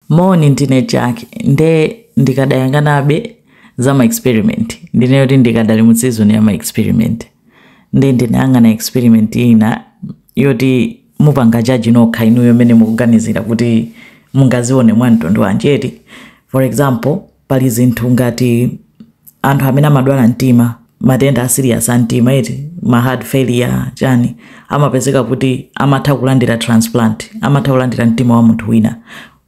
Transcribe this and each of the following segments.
Moni ndine Jack nde ndikadayanganabe za ma experiment ndineyo kuti ndikadali mu season ya ma experiment nde ndinayang'ana experiment ina yoti mupange jaji nokha inuyo mmene mukuganizira kuti mungazione mwa mtundu wanjeti for example pali zinthu ngati anthu amene amadwala mtima matenda asiriyasi a mtima eti ma heart failure chani amapezeka kuti amatha kulandira transplant amatha kulandira mtima wa munthu wina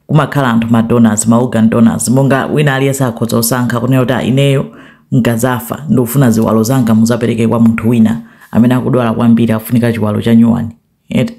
kumakhala anthu ma donors ma organ donors monga wina aliyese akhoza kusankha kunena kuti "Ah, ineyo nkazafa ndikufuna ziwalo zanga muzapereke kwa munthu wina amene akudwala kwambiri akufunika chiwalo cha nyuwani eti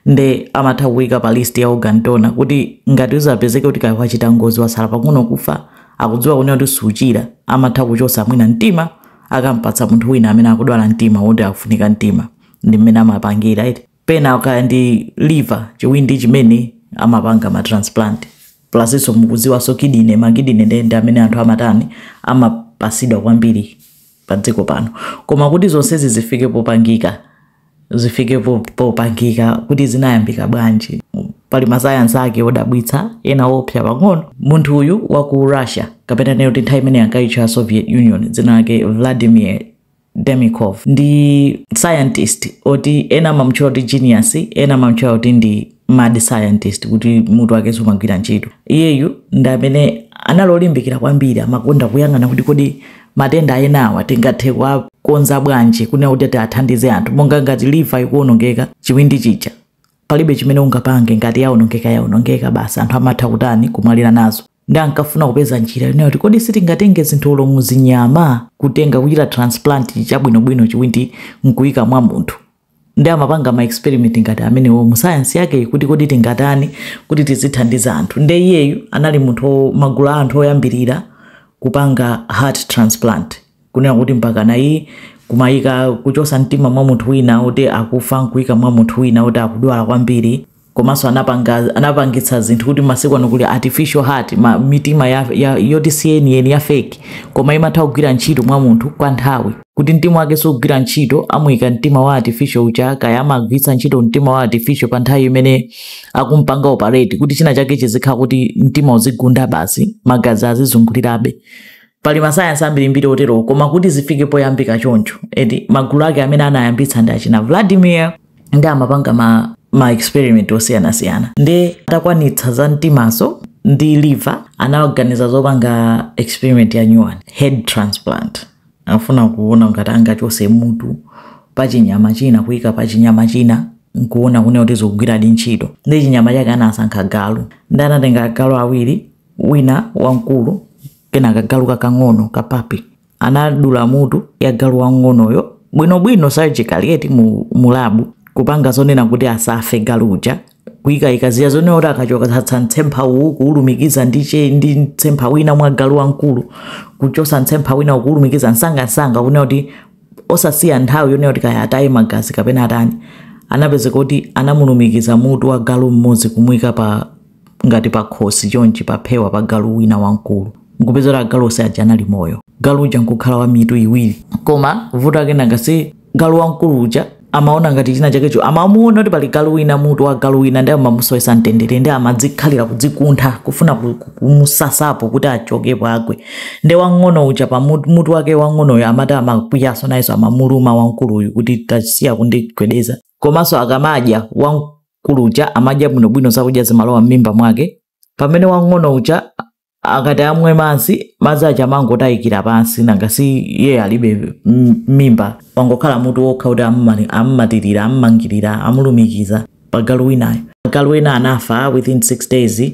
nde amatha kuika pa list ya organ donor kuti ngati uzapezeke kuti kaya wachita ngozi wasala pang'ono kufa akudziwa kunena kuti suchira amatha kuchosa mwina mtima akampatsa munthu wina amene akudwala mtima woti akufunika mtima ndi mmene amapangira eti pena kaya ndi liver chiwindi chimene amapanga ma transplant plasinso mukudziwanso kidine makidine nde ndi amene anthu amatani amapasidwa kwambiri padziko pano. Koma kuti zonsezi zifike popangika, zifike po- popangika kuti zinayambika bwanji pali masayansi ake odabwitsa ena opsa pang'ono munthu uyu wa ku Russia kapena nditi nthawi imene ankaitcha Soviet Union dzina lake Vladimir Demikhov ndi scientist oti ena amamutchula kuti genius ena amamutchula kuti ndi mad scientist kuti mutu wake sumagwira ntchito iyeyu ndi amene anali olimbikira kwambiri amakonda kuyang'ana kuti kodi matenda enawa tingathe kuwakonza bwanji kunena kuti tiwathandize anthu monga ngati liva ikuonongeka chiwindi chija palibe chimene ungapange ngati yaonongeka yaonongeka basi anthu amatha kutani kumwalira nazo nde ankafuna kupeza njira yonena kuti kodi sitingatenge zinthu olo mu zinyama kutenga kuchita transplant cha bwinobwino chiwindi nkuyika mwa munthu nde amapanga ma experiment ngati amenewo mu science yake kuti kodi tingatani kuti tizithandiza anthu nde iyeyu anali munthu wo- magulu a anthu oyambirira kupanga heart transplant kunena kuti mpakana ayi kumayika kuchosa mtima mwa munthu wina oti akufa nkuika mwa munthu wina oti akudwala kwambiri komanso anapanga anapangitsa zinthu kuti masiku ano kuli artificial heart ma, mitima ya, ya, yoti si yeniyeni ya fake koma imatha kugwira ntchito mwa munthu kwa nthawi kuti mtima wake sugwira ntchito amuyika mtima wa artificial uja kaya amagwiritsa ntchito mtima wa artificial pa nthawi imene akumpanga operate kuti china chake chizikhala kuti mtima uzigunda basi magazi azizungulirabe pali masayansi ambirimbiri oterowo koma kuti zifike poyambika choncho eti magulu ake amene anayambitsa ndi achina vladimir ndi amapanga ma, ma experiment osiyanasiyana ndi atakwanitsa za mtimazo ndi liver anawaganiza zopanga experiment ya nyuwani head transplant afuna kuona ngati angachose mutu pa chinyama china kuyika pa chinyama china nkuona kunena kuti zikugwiradi ntchito ndi chinyama chake anasankha galu ndi anatenga agalu awiri wina wamkulu kenaka galu kakang'ono ka papi anadula mutu ya galu wang'onoyo bwinobwino surgically eti mu, mu labu kupanga zonena kuti asafe galu uja kuyika idea zonena kuti akachotsa mtsempha uwu kuwulumikiza ndi che ndi mtsempha wina mwa galu wamkulu kuchotsa mtsempha wina ukuwulumikiza msangamsanga kunena kuti osasiya nthawi yonena kuti kaya ataye magazi kapena atani anapezeka kuti anamulumikiza mutu wa galu mmodzi kumuyika pa ngati pakhosi chonchi paphewa pa galu wina wamkulu nkupeza kuti agalu onse aja anali moyo galu uja nkukhala wa mitu iwiri koma vuto ake nanga si galu wamkulu uja amaona ngati china chakecho amamuona kuti pali galu wina mutu wa galu wina ndi amamusowesa mtendere ndi amadzikhalira kudzikuntha kufuna ku- ku- kumusasapo kuti achokepo agwe ndi wang'ono uja pa mutu mutu wake wang'onoyo amati amakwiyaso nayenso amamuluma wamkuluyu kuti tasiya kundigwedeza komanso akamadya wamkulu mkulu uja amadya bwinobwino zakudya zimalowa m'mimba mwake pamene wang'ono uja akati amwe madzi madzi aja amangotayikira pansi nanga si iye alibe m- mimba wangokhala mutu wokha kuti amumali- amumatirira amumangirira amulumikiza pa galu winayo galu wina anafa within 6 days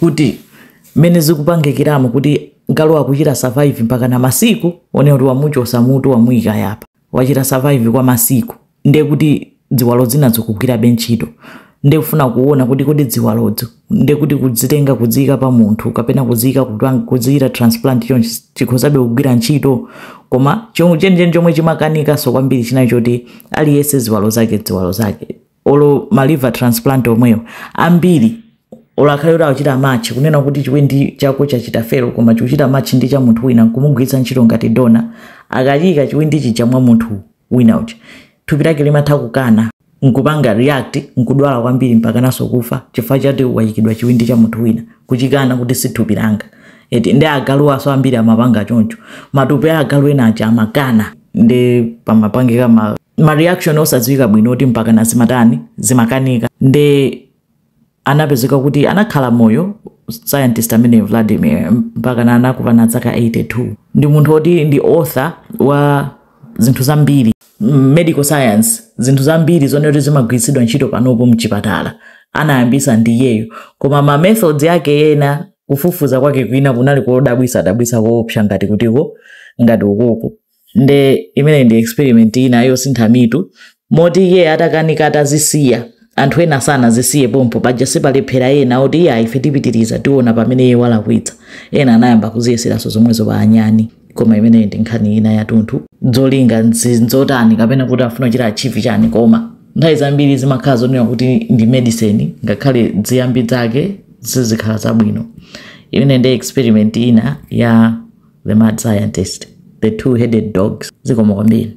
kuti mmene zikupangikiramo kuti galu akuchita survive mpaka na masiku one kuti wamuchosa mutu wamuyika yapa wachita survive kwa masiku ndiye kuti ziwalo zina zikugwirabe ntchito ndiye kufuna kuona kuti kodi ziwalozo ndiye kuti kudzitenga kudziyika pa munthu kapena kudziyika kupang- kudziyita transplant chonchi chikhozabe kugwira ntchito koma chomwe- chenicheni chomwe chimakanikanso kwambiri chinayi choti aliyense ziwalo zake ziwalo zake olo ma liver transplant omweyo ambiri olo akhale kuti akuchita match kunena kuti chiwindi chako chachita fail koma chikuchita match ndi cha munthu wina nkumugwiritsa ntchito ngati donor akachiyika chiwindi chija mwa munthu wina uja thupi lake limatha kukana nkupanga react nkudwala kwambiri mpakana nso kufa chifukwa choti wayikidwa chiwindi cha munthu wina kuchikana kuti si thupi langa eti ndi agalu aso ambiri amapanga choncho matupi a agalu ena aja amakana ndi pamapangika ma ma reaction osadziwika bwino oti mpakana zimatani zimakanika nde anapezeka kuti anakhala moyo scientist amene vladimir mpakana anakwana dzaka 82 ndi munthu oti ndi author wa zinthu zambiri mm, medical science zinthu zambiri zonena kuti zimagwiritsidwa ntchito panopo mchipatala anayambisa ndi iyeyo koma ma methods ake ena kufufuza kwake kwina kunali kodabwisa dabwisa koopsa ngati kutiko ngati kumeneko nde imene ndi experiment ina yosintha mitu moti iye atakanika atazisiya anthu ena sanazisiye pompo paja sipalephera ena oti iye ife tipitiriza tiona pamene iye walakwitsa ena anayamba kuziyeseranso zomwezo pa anyani koma imeneyi ndi nkhani ina yatunthu zolinga nzi- nzotani kapena kuti afuna kuchita achieve chani koma nthawi zambiri zimakhala zonena kuti ndi medicine ngakhale ziyambi zake zizikhala zabwino imene ndi experiment ina ya the mad scientist the two headed dogs zikomo kwambiri